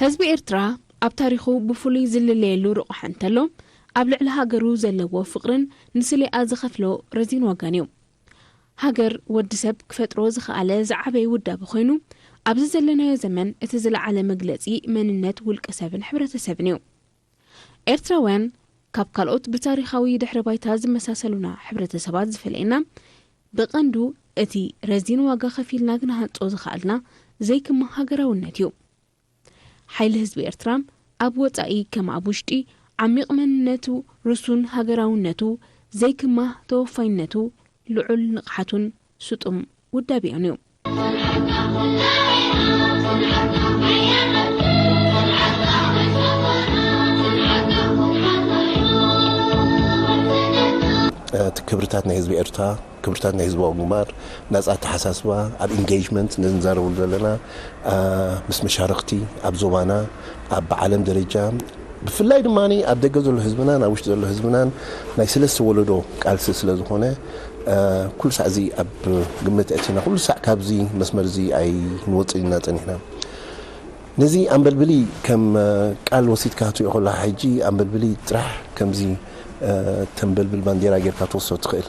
ህዝቢ ኤርትራ ኣብ ታሪኹ ብፍሉይ ዝልለየሉ ርቑሐ እንተሎ ኣብ ልዕሊ ሃገሩ ዘለዎ ፍቕርን ንስሌኣ ዝኸፍሎ ረዚን ዋጋን እዩ። ሃገር ወዲ ሰብ ክፈጥሮ ዝኸኣለ ዝዓበየ ውዳበ ኮይኑ ኣብዚ ዘለናዮ ዘመን እቲ ዝለዓለ መግለጺ መንነት ውልቀ ሰብን ሕብረተሰብን እዩ። ኤርትራውያን ካብ ካልኦት ብታሪኻዊ ድሕረ ባይታ ዝመሳሰሉና ሕብረተሰባት ዝፈልየና ብቐንዱ እቲ ረዚን ዋጋ ከፊልና ክንሃንጾ ዝኸኣልና ዘይክማ ሃገራውነት እዩ። ሓይሊ ህዝቢ ኤርትራ ኣብ ወጻኢ ከም ኣብ ውሽጢ ዓሚቕ መንነቱ ርሱን ሃገራውነቱ፣ ዘይክማ ተወፋይነቱ፣ ልዑል ንቕሓቱን ስጡም ውዳቤኡን እዩ። ክብርታት ናይ ህዝቢ ኤርትራ ክብርታት ናይ ህዝባዊ ግንባር ናጻ ኣተሓሳስባ ኣብ ኢንገጅመንት ንዛረበሉ ዘለና ምስ መሻርኽቲ ኣብ ዞባና ኣብ ዓለም ደረጃ ብፍላይ ድማ ኣብ ደገ ዘሎ ህዝብናን ኣብ ውሽጢ ዘሎ ህዝብናን ናይ ሰለስተ ወለዶ ቃልሲ ስለ ዝኾነ ኩሉ ሳዕ እዚ ኣብ ግምት ኣእቲና ኩሉ ሳዕ ካብዚ መስመር እዚ ኣይንወፅእን ኢና ፀኒሕና ነዚ ኣንበልብሊ ከም ቃል ወሲድካ ክትሪኦ ከለካ ሕጂ ኣንበልብሊ ጥራሕ ከምዚ ተንበልብል ባንዴራ ጌርካ ትወስዶ ትኽእል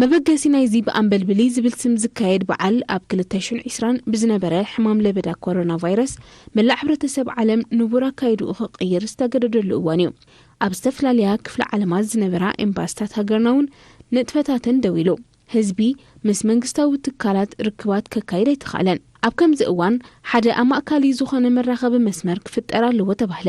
መበገሲ ናይዚ ብኣንበልብሊ ዝብል ስም ዝካየድ በዓል ኣብ ክልተ ሽን ዒስራን ብዝነበረ ሕማም ለበዳ ኮሮና ቫይረስ መላእ ሕብረተሰብ ዓለም ንቡር ኣካይድኡ ክቕይር ዝተገደደሉ እዋን እዩ። ኣብ ዝተፈላለያ ክፍለ ዓለማት ዝነበራ ኤምባስታት ሃገርና እውን ንጥፈታተን ደው ኢሉ። ህዝቢ ምስ መንግስታዊ ትካላት ርክባት ከካይድ ኣይተኻእለን። ኣብ ከምዚ እዋን ሓደ ኣማእካሊ ዝኾነ መራኸቢ መስመር ክፍጠር ኣለዎ ተባህለ።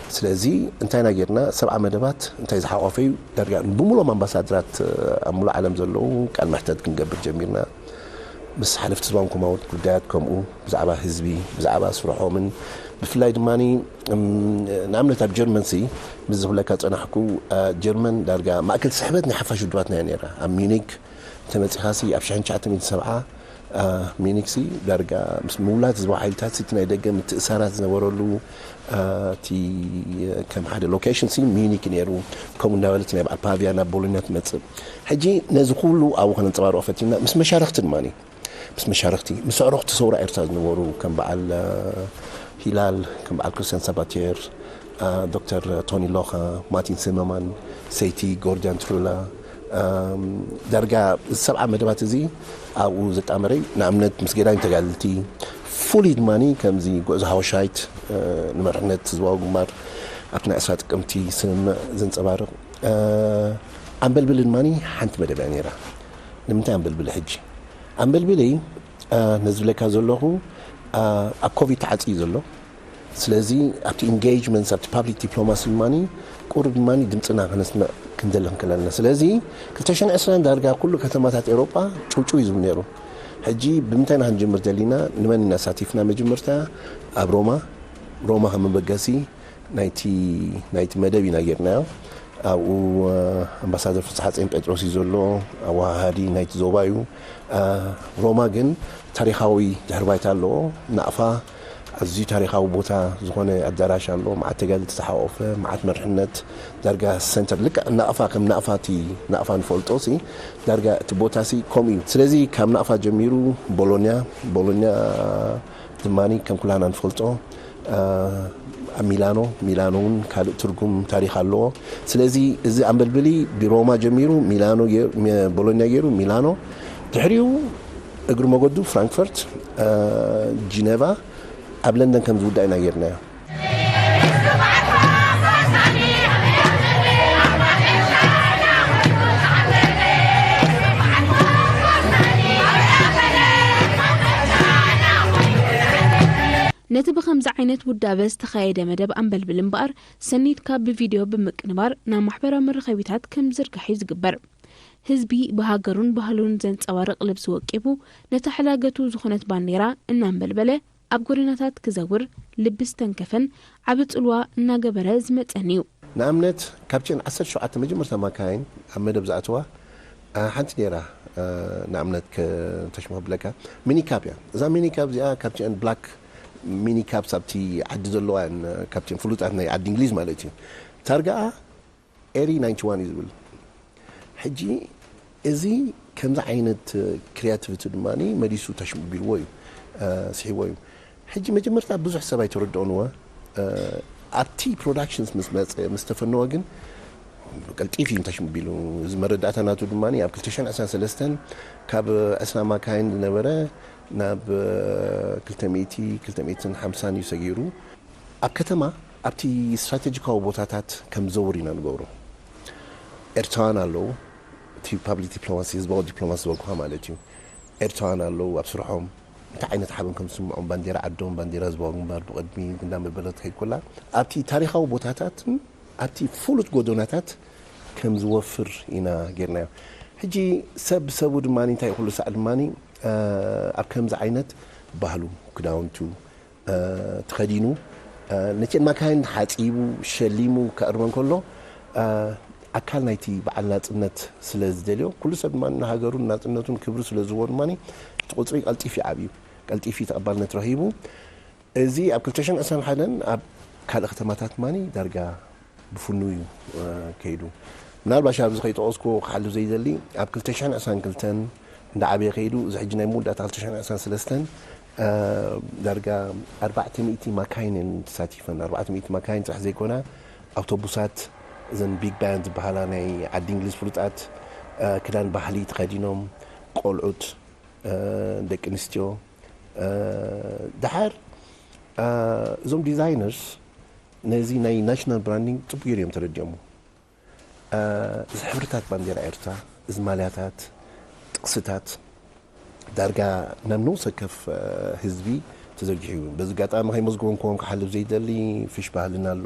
ስለዚ እንታይ ኢና ጌርና ሰብዓ መደባት እንታይ ዝሓቖፈ እዩ ዳርጋ ብሙሉኦም ኣምባሳድራት ኣብ ሙሉእ ዓለም ዘለዉ ቃል መሕተት ክንገብር ጀሚርና ምስ ሓለፍቲ ዝባን ኮማውት ጉዳያት ከምኡ ብዛዕባ ህዝቢ ብዛዕባ ስርሖምን ብፍላይ ድማ ንኣብነት ኣብ ጀርመን ሲ ምስ ዝብለካ ጸናሕኩ ጀርመን ዳርጋ ማእከል ስሕበት ናይ ሓፋሽ ውድባትና እያ ነይራ ኣብ ሚዩኒክ እንተመጺኻሲ ኣብ 1970 ሚኒክሲ ዳርጋ ምስ ምውላት ዝባ ሓይልታት እቲ ናይ ደገ ምትእሳራት ዝነበረሉ እቲ ከም ሓደ ሎኬሽን ሲ ሚዩኒክ ነይሩ ከምኡ እንዳበለት ናይ በዓል ፓቪያ ናብ ቦሎኛ ትመፅእ ሕጂ ነዚ ኩሉ ኣብኡ ከነንፀባርቆ ፈቲንና ምስ መሻርክቲ ድማ ምስ መሻርክቲ ምስ ኣዕሩኽቲ ሰውራ ኤርትራ ዝነበሩ ከም በዓል ሂላል ከም በዓል ክርስቲያን ሳባቴር ዶክተር ቶኒ ሎኻ ማቲን ሲመማን ሰይቲ ጎርዲያን ትሩላ ዳርጋ እዚ ሰብዓ መደባት እዚ ኣብኡ ዘጣመረይ ንኣብነት ምስ ገዳይም ተጋድልቲ ፍሉይ ድማ ከምዚ ጉዕዞ ሃወሻይት ንመርሕነት ህዝባዊ ግንባር ኣብቲ ናይ ዕስራ ጥቅምቲ ስምምዕ ዘንፀባርቕ ኣንበልብሊ ድማ ሓንቲ መደብ እያ ነይራ። ንምንታይ ኣንበልብሊ ሕጂ? ኣንበልብሊ ነዚ ዝብለካ ዘለኹ ኣብ ኮቪድ ተዓፅዩ ዘሎ ስለዚ ኣብቲ ኢንገይጅመንትስ ኣብቲ ፓብሊክ ዲፕሎማሲ ድማ ቁሩብ ድማ ድምፅና ከነስምዕ ክንደሊ ክንክእል ኣለና። ስለዚ ክልተ ሽሕን ዕስራን ዳርጋ ኩሉ ከተማታት ኤውሮጳ ጭውጭው እዩ ዝብል ነይሩ። ሕጂ ብምንታይ ኢና ክንጅምር ደሊና ንመን ኢና ኣሳቲፍና መጀመርታ ኣብ ሮማ ሮማ ከም መበገሲ ናይቲ ናይቲ መደብ ኢና ጌርናዮ። ኣብኡ ኣምባሳደር ፍስሓጼን ጴጥሮስ እዩ ዘሎ ኣወሃሃዲ ናይቲ ዞባ እዩ። ሮማ ግን ታሪኻዊ ድሕሪ ባይታ ኣለዎ ናቕፋ ኣዝዩ ታሪኻዊ ቦታ ዝኾነ ኣዳራሽ ኣሎ፣ መዓት ተጋደልቲ ዝሓቖፈ፣ መዓት መርሕነት፣ ዳርጋ ሰንተር ልክዕ ናቕፋ ከም ናቕፋ እቲ ናቕፋ ንፈልጦሲ ዳርጋ እቲ ቦታሲ ከምኡ እዩ። ስለዚ ካብ ናቕፋ ጀሚሩ ቦሎንያ፣ ቦሎንያ ድማ ከም ኩላህና ንፈልጦ ኣብ ሚላኖ፣ ሚላኖ እውን ካልእ ትርጉም ታሪኽ ኣለዎ። ስለዚ እዚ ኣምበልብሊ ብሮማ ጀሚሩ ሚላኖ ቦሎንያ ገይሩ ሚላኖ ድሕሪኡ እግሪ ሞገዱ ፍራንክፈርት፣ ጂነቫ፣ ኣብ ለንደን ከም ዝውዳእ ኢና ገይርናዮ። ነቲ ብኸምዚ ዓይነት ውዳበ ዝተኻየደ መደብ ኣምበልብል እምበኣር ሰኒትካ ብቪድዮ ብምቅንባር ናብ ማሕበራዊ መራኸቢታት ከም ዝዝርጋሕ'ዩ ዝግበር። ህዝቢ ብሃገሩን ባህሉን ዘንጸባርቕ ልብሲ ወቂቡ፣ ነታ ሕላገቱ ዝኾነት ባንዴራ እናንበልበለ ኣብ ጎደናታት ክዘውር ልቢ ዝተንከፈን ዓቢ ጽልዋ እናገበረ ዝመጸን'ዩ። ንኣብነት ካብተን ዓሰርተ ሸውዓተ መጀመርታ ማካይን ኣብ መደብ ዝኣተዋ ሓንቲ ነይራ፣ ንኣብነት ከ-ተሽሙ ከብለካ፣ ሚኒካብ እያ። እዛ ሚኒካብ እዚኣ ካብቲኣን ብላክ ሚኒካብስ ኣብቲ ዓዲ ዘለዋ እየን፣ ካብቲኤን ፍሉጣት ናይ ዓዲ እንግሊዝ ማለት እዩ። ታርጋኣ Eri ninety one እዩ ዝብል ሕጂ እዚ ከምዚ ዓይነት ክሪያቲቪቲ ድማ መሊሱ ተሽምቢልዎ እዩ ስሒዎ እዩ ሕጂ መጀመርታ ብዙሕ ሰብ ኣይተረድኦን እወ ኣብቲ ፕሮዳክሽንስ ምስ መፀ ምስ ተፈነወ ግን ቀልጢፍ እዩ ተሽምቢሉ እዚ መረዳእታ ናቱ ድማ ኣብ 223 ካብ ዕስራ ማካይን ዝነበረ ናብ 200 250 እዩ ሰጊሩ ኣብ ከተማ ኣብቲ ስትራተጂካዊ ቦታታት ከም ዝዘውር ኢና ንገብሮ። ኤርትራውያን ኣለዉ፣ እቲ ፓብሊክ ዲፕሎማሲ፣ ህዝባዊ ዲፕሎማሲ ዝበልኩኻ ማለት እዩ። ኤርትራውያን ኣለዉ፣ ኣብ ስርሖም እንታይ ዓይነት ሓበን ከም ዝስምዖም፣ ባንዴራ ዓዶም፣ ባንዴራ ህዝባዊ ግንባር ብቕድሚ እንዳመበለት ትኸይድ ኮላ፣ ኣብቲ ታሪኻዊ ቦታታትን ኣብቲ ፍሉጥ ጎደናታት ከም ዝወፍር ኢና ጌርናዮ። ሕጂ ሰብ ብሰቡ ድማ እንታይ እዩ ኩሉ ሳዕ ድማ ኣብ ከምዚ ዓይነት ባህሉ፣ ክዳውንቱ፣ ተኸዲኑ ነተን ማካይን ሓጺቡ ሸሊሙ ከዕርበን ከሎ ኣካል ናይቲ በዓል ናጽነት ስለ ዝደልዮ ኩሉ ሰብ ድማ ንሃገሩን ናጽነቱን ክብሪ ስለ ዝህቦ ድማ እቲ ቁጽሪ ቀልጢፍ እዩ ዓብዩ ቀልጢፍ እዩ ተቐባልነት ረኺቡ እዚ ኣብ ክልተ ሽሕን ዕስራን ሓደን ኣብ ካልእ ከተማታት ድማ ዳርጋ ብፍኑው እዩ ከይዱ። ምናልባሽ ኣብዚ ከይጠቐስኩዎ ክሓልፍ ዘይደሊ፣ ኣብ ክልተ ሽሕን ዕስራን ክልተን እንዳዓበየ ከይዱ፣ እዚ ሕጂ ናይ መወዳእታ ክልተ ሽሕን ዕስራን ሰለስተን ዳርጋ ኣርባዕተ ሚእቲ ማካይን እየን ተሳቲፈን። ኣርባዕተ ሚእቲ ማካይን ጥራሕ ዘይኮና፣ ኣውቶቡሳት፣ እዘን ቢግ ባንድ ዝበሃላ ናይ ዓዲ እንግሊዝ ፍሉጣት፣ ክዳን ባህሊ ተኸዲኖም፣ ቆልዑት፣ ደቂ ኣንስትዮ፣ ደሓር እዞም ዲዛይነርስ፣ ነዚ ናይ ናሽናል ብራንዲንግ ጽቡቅ ጌሩ እዮም ተረዲኦሞ እዚ ሕብርታት ባንዴራ ኤርትራ እዚ ማልያታት ጥቅስታት ዳርጋ ናብ ነውሲ ወከፍ ህዝቢ ተዘርጊሑ እዩ በዚ ኣጋጣሚ ከይመዝግቦም ክወም ክሓልፍ ዘይደሊ ፍሽ ባህልና ኣሎ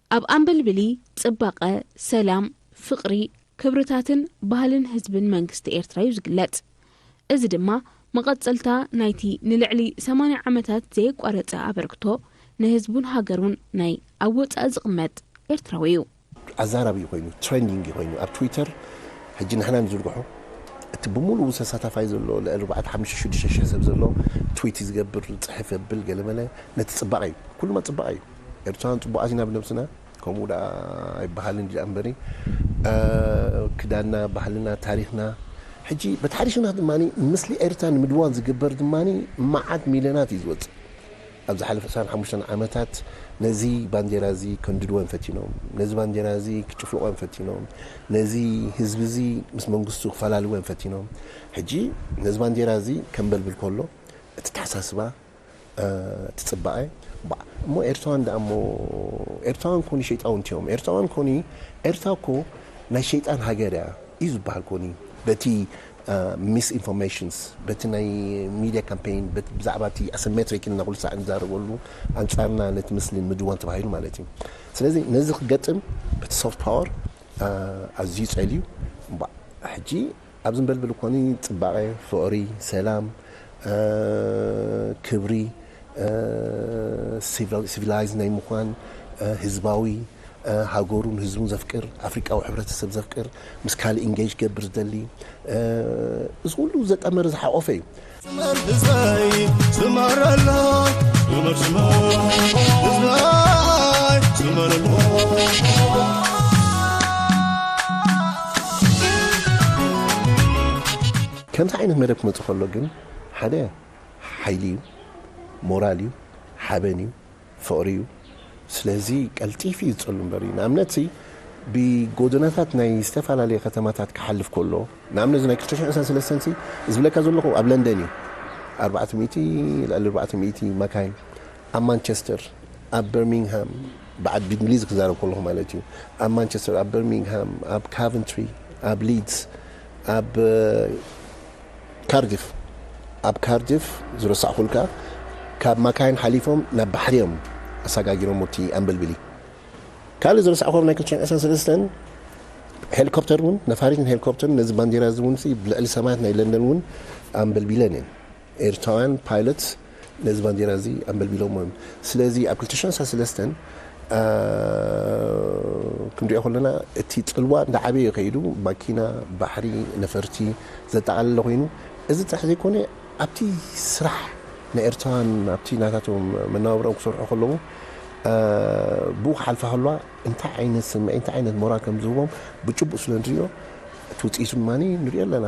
ኣብ ኣምበልብሊ ጽባቐ፣ ሰላም፣ ፍቕሪ፣ ክብርታትን ባህልን ህዝብን መንግስቲ ኤርትራ'ዩ ዝግለጽ። እዚ ድማ መቐጸልታ ናይቲ ንልዕሊ ሰማንያ ዓመታት ዘየቋረጸ ኣበርክቶ ንህዝቡን ሃገሩን ናይ ኣብ ወጻኢ ዝቕመጥ ኤርትራዊ'ዩ። ኣዛራቢ'ዩ ኮይኑ፣ ትረንዲንግ'ዩ ኮይኑ ኣብ ትዊተር ሕጂ ንሕና ንዝርግሖ እቲ ብምሉኡ ተሳታፋይ ዘሎ ልዕሊ ኣርባዕተ ሓሙሽተ ሽዱሽተ ሽሕ ሰብ ዘሎ ትዊት ዝገብር፣ ዝጽሕፍ የብል ገለመለ ነቲ ጽባቐ'ዩ። ኩሉማ ጽባቐ'ዩ። ኤርትራውያን ጽቡቃት ኢና ብነብስና ከምኡ ደኣ ኣይበሃልን ድዩ ኣምበሪ ክዳንና ባህልና ታሪኽና ሕጂ በቲ ሓድሽ ኩናት ድማ ምስሊ ኤርትራ ንምድዋን ዝግበር ድማ መዓት ሚልዮናት እዩ ዝወጽእ ኣብ ዝሓለፈ ዕስራን ሓሙሽተን ዓመታት ነዚ ባንዴራ እዚ ከንድድወን ፈቲኖም ነዚ ባንዴራ እዚ ክጭፍልቆን ፈቲኖም ነዚ ህዝቢ እዚ ምስ መንግስቱ ክፈላልወን ፈቲኖም ሕጂ ነዚ ባንዴራ እዚ ከንበልብል ከሎ እቲ ተሓሳስባ ትጽባኤ ባዕ እሞ ኤርትራውያን ደኣ እሞ ኤርትራውያን ኮኒ ሸይጣውንቲ እዮም ኤርትራውያን ኮኒ ኤርትራ እኮ ናይ ሸይጣን ሃገር እያ እዩ ዝበሃል ኮኒ በቲ ሚስ ኢንፎርሜሽንስ በቲ ናይ ሚድያ ካምፔይን ብዛዕባ እቲ ኣሰሜትሪክ ኢልና ኩሉ ሳዕ ንዛረበሉ ኣንጻርና ነቲ ምስሊ ንምድዋን ተባሂሉ ማለት እዩ ስለዚ ነዚ ክገጥም እቲ ሶፍት ፓወር ኣዝዩ ጸልዩ እምባ ሕጂ ኣብ ዝንበልብል እኮኒ ጽባቐ፣ ፍቕሪ፣ ሰላም፣ ክብሪ፣ ሲቪላይዝ ናይ ምዃን፣ ህዝባዊ፣ ሃገሩን ህዝቡን ዘፍቅር፣ ኣፍሪቃዊ ሕብረተሰብ ዘፍቅር፣ ምስ ካልእ ኢንጌጅ ክገብር ዝደሊ፣ እዚ ኩሉ ዘጠመረ ዝሓቖፈ እዩ። ከምዚ ዓይነት መደብ ክመፅእ ከሎ ግን ሓደ ሓይሊ እዩ፣ ሞራል እዩ፣ ሓበን እዩ፣ ፍቕሪ እዩ ስለዚ ቀልጢፊ እዩ ዝጸሉ እምበር እዩ ንኣብነትሲ ብጎደናታት ናይ ዝተፈላለየ ከተማታት ክሓልፍ ኮሎ ንኣብነት እዚ ናይ ክልተ ሽሕን ዕስራን ሰለስተን ሲ ዝብለካ ዘለኹ ኣብ ለንደን እዩ ኣርባዕተ ሚእቲ ልዕሊ ኣርባዕተ ሚእቲ መካይን ኣብ ማንቸስተር ኣብ በርሚንግሃም በዓል ብእንግሊዝ ክዛረብ ከለኹ ማለት እዩ ኣብ ማንቸስተር ኣብ በርሚንግሃም ኣብ ካቨንትሪ ኣብ ሊድስ ኣብ ካርዲፍ ኣብ ካርዲፍ ዝረሳዕኩልካ ካብ ማካይን ሓሊፎም ናብ ባሕሪ እዮም ኣሳጋጊሮሞ እቲ ኣንበልብሊ ካልእ ዝረሳዕኩም ናይ ክልተ ሽሕን ዕስራን ሰለስተን ሄሊኮፕተር እውን ነፋሪትን ሄሊኮፕተርን ነዚ ባንዴራ እዚ እውን ብልዕሊ ሰማያት ናይ ለንደን እውን ኣንበልቢለን እየን ኤርትራውያን ፓይለት ነዚ ባንዴራ እዚ ኣምበልቢሎሞ እዮም። ስለዚ ኣብ ክልተ ሽሕን ሰለስተን ክንሪኦ ከሎና እቲ ጽልዋ እንዳዓበየ እዩ ከይዱ። ማኪና፣ ባሕሪ፣ ነፈርቲ ዘጠቓለለ ኮይኑ እዚ ጥራሕ ዘይኮነ ኣብቲ ስራሕ ናይ ኤርትራውያን ኣብቲ ናታቶም መነባብሮኦም ክሰርሑ ከለዉ ብኡ ክሓልፋ ከለዋ እንታይ ዓይነት ስምዒት እንታይ ዓይነት ሞራል ከም ዝህቦም ብጭቡጥ ስለ ንርእዮ እቲ ውጽኢቱ ድማ ንርእዮ ኣለና።